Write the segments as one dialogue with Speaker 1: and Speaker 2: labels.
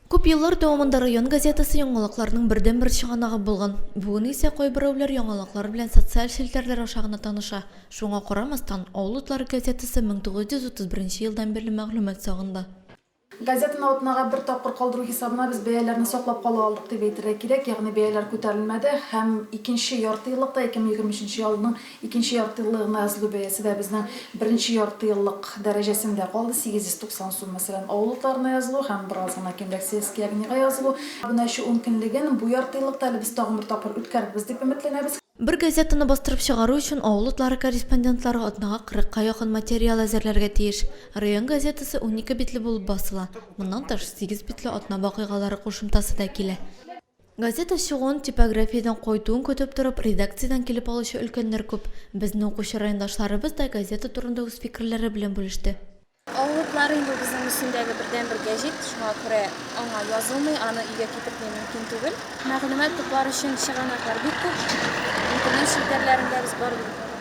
Speaker 1: Күп еллар дәвамында район газетасы яңалыкларның бердәнбер чыганагы булган. Бүген исә кайберәүләр яңалыклар белән социаль челтәрләр аша гына таныша. Шуңа карамастан, Авыл утлары газетасы 1931 елдан бирле мәгълүмат сагында. Газетаны
Speaker 2: атнага бер тапкыр калдыру хисабына без бәяләрне саклап кала алдык дип әйтергә кирәк, ягъни бәяләр күтәрелмәде һәм икенче яртыеллыкта, 2023 елның Икенче яртыеллыгына язылу бәясе дә безнең беренче яртыеллык дәрәҗәсендә калды, 890 сум. Мәсәлән, авыл утларына язылу һәм бераз гына кимрәк сельский огнига язылу. Абунәче ун көнлеген бу яртыеллыкта әле без тагын бер тапкыр үткәрербез дип өметләнәбез. Бер газетаны
Speaker 1: бастырып чыгару өчен авыл утлары корреспондентлары атнага кырыкка якын материал әзерләргә тиеш. Район газетасы унике битле булып басыла, моннан тыш, сигез битле атна вакыйгалары кушымтасы да килә. Газета чыгуын, типографиядән кайтуын көтеп торып, редакциядән килеп алучы өлкәннәр күп. Безнең укучы райондашларыбыз да газета турында үз фикерләре белән бүлеште. Авыллар
Speaker 3: инде ул безнең өстендәге бердәнбер гәҗит, шуңа күрә аңа язылмый, аны өйгә китертми мөмкин түгел. Мәгълүмат туплар өчен чыганаклар бик күп. Интернет челтәрләрендә без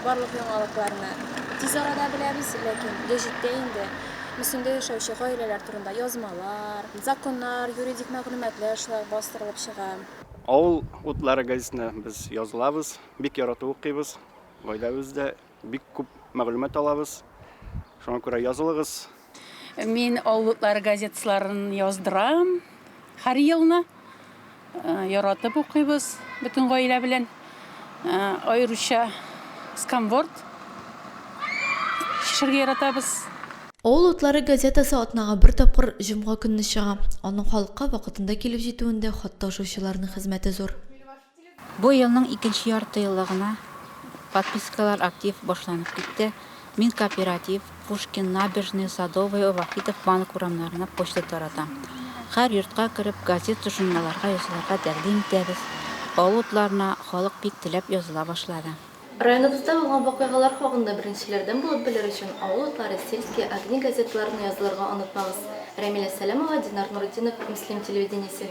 Speaker 3: барлык яңалыкларны тиз арада беләбез, ләкин гәҗиттә инде Мөслимдә яшәүче гаиләләр турында язмалар, Законнар, юридик мәгълүматлар шулай бастырылып чыга. Авыл
Speaker 4: утлары газетына без язылабыз, бик яратып укыйбыз. Гаиләбез дә бик күп мәгълүмат алабыз. Шуңа күрә язылыгыз. Мин
Speaker 5: Авыл утлары газетасларын яздырам һәр елны. Яратып укыйбыз бөтен гаилә белән. Аеруча сканворд чишергә яратабыз. Авыл утлары
Speaker 1: газетасы атнага бер тапкыр җомга көнне чыга. Аның халыкка вакытында килеп җитүендә хат ташучыларның хезмәте зур. Бу
Speaker 6: елның икенче яртыеллыгына подпискалар актив башланып китте. Мин кооператив, Пушкин, Набережная, Садовая, Вахитов, Банк урамнарына почта таратам. Хәр йортка кереп, газет-тошемаларга язылырга тәкъдим итәбез. Авыл утларына халык бик теләп языла башлады. Районыбызда булган
Speaker 7: вакыйгалар хакында беренчеләрдән булып белер өчен, Авыл утлары, Сельские огни газеталарына язылырга онытмагыз. Рәмилә Сәләмова, Динар Нуретдинов, Мөслим телевидениесе.